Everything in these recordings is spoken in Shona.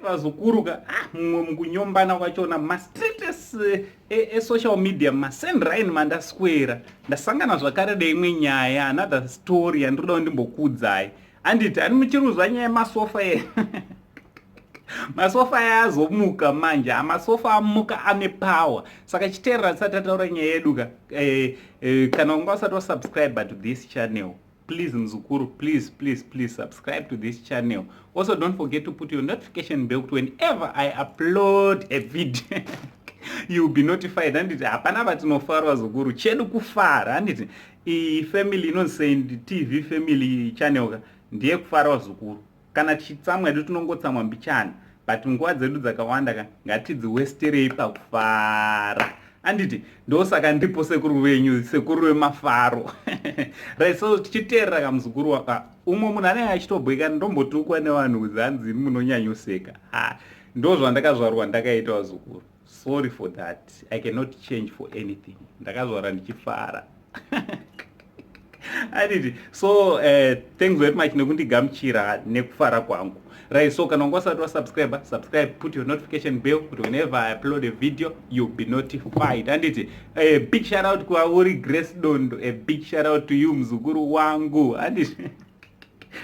vazokuruka ah, mumwe ah, mukunyombana kwachona mastretes eh, eh, esocial eh, media masendrine mandaswera ndasangana zvakare neimwe nyaya another story yandinoda kundimbokuudzai anditi ani muchiruzwa nyaya yemasofa ye masofa aya azomuka manje amasofa amuka ane power saka chiteerera tisati tataura nyaya yedu ka eh, eh, kana unga usati wasubscribe to this channel please mzukuru please please please subscribe to this channel also don't forget to put your notification bell kuti whenever i upload a video you'll be notified handiti hapana vatinofarwa zukuru chedu kufara handiti iyi family inonzi saint tv family channel ka ndiye kufarawa zukuru Kana tichitsamwa hedu tinongotsamwa mbichana but nguva dzedu dzakawanda ka ngatidziwesterei pakufara anditi ndosaka ndiripo sekuru venyu sekuru vemafaro right so tichiteerera kamuzukuru waka umwe munhu anenge achitobhoika ndombotukwa nevanhu kuzanzi munonyanyoseka ha ndozvandakazvarwa ndakaita vazukuru sorry for that i cannot change for anything ndakazvara ndichifara adidi so uh, thanks very much nekundigamuchira nekufara kwangu right so kana wanga usati wasubscribe subscribe put your notification bell kuti whenever i upload a video you'll be notified anditi a big shout out kuvauri grace dondo a big shout out to you mzukuru wangu anditi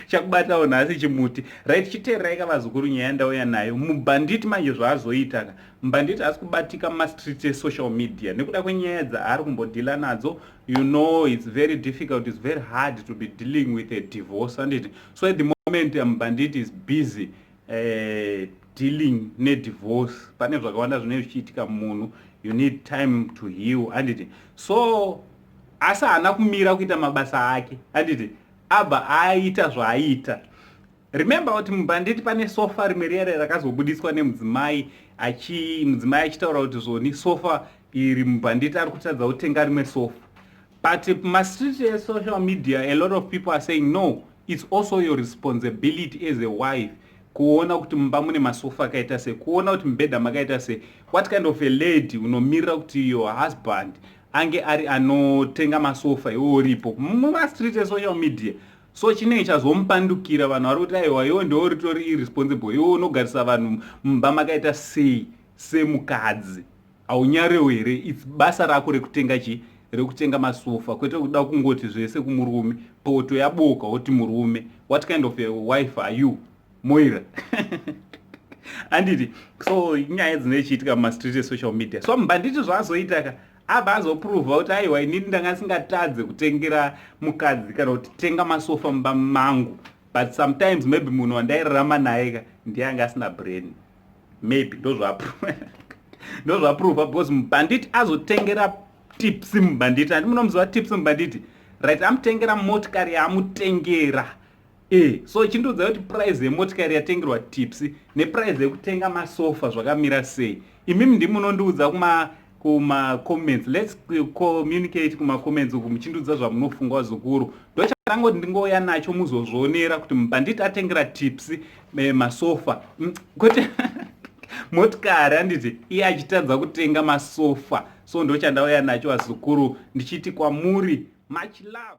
chakubatawo nhasi chimuti right chiteererai ka vazukuru nyaya ndauya nayo mubhanditi manje zvaazoita ka mbhanditi asi kubatika mumastreets esocial media nekuda kwenyaya dzaari kumbodhila nadzo you know its very difficult its very hard to be dealing with a divorce anditi so at the moment mbhanditi is busy uh, dealing nedivorce pane zvakawanda zvinee zvichiitika munhu you need time to heal anditi so asi haana kumira kuita mabasa ake anditi Abva aita zvaaita. Remember kuti mubhanditi pane sofa rimwe riyare rakazobudiswa nemudzimai achi mudzimai achitaura kuti zvoni sofa iri mubhanditi ari kutadza kutenga rimwe sofa. But mastreet esocial media a lot of people are saying no it's also your responsibility as a wife kuona kuti mumba mune masofa akaita se kuona kuti mubhedha makaita se what kind of a lady unomirira kuti your husband ange ari anotenga masofa iwo uripo mumastreet esocial media so chinenge chazomupandukira vanhu vari kuti aiwa iwo ndiwo ritori irresponsible iwo unogarisa vanhu mumba makaita sei semukadzi haunyarewo here its basa rako rekutenga chii rekutenga masofa kwete kuda kungoti zvese kumurume poto yaboka woti murume what kind of a wife are you moira handiti so nyaya dzinoichiitika mumastreet esocial media so mbanditi zvaazoita ka abva azopruvha kuti aiwa inini ndanga singatadze kutengera mukadzi kana kuti tenga masofa mumba mangu but sometimes maybe munhu wandairarama naye ka ndiye anga asina brain maybe ndozvapruvha ndozvapruvha because mbanditi azotengera tips mbanditi andi munomuziva tips mbanditi right amutengera motikari yaamutengera Eh, so chindiudza kuti price yemotikari yatengerwa tipsy neprice yekutenga masofa zvakamira sei imimi ndimi munondiudza kuma kumacomments lets communicate kumacomments uku muchindiudza zvamunofunga wazukuru ndochatangoti ndingouya nacho muzozvionera kuti mubhanditi atengera tips eh, masofa mm, kuti motikari handiti iye achitadza kutenga masofa so ndochandauya nacho wazukuru ndichiti kwamuri much love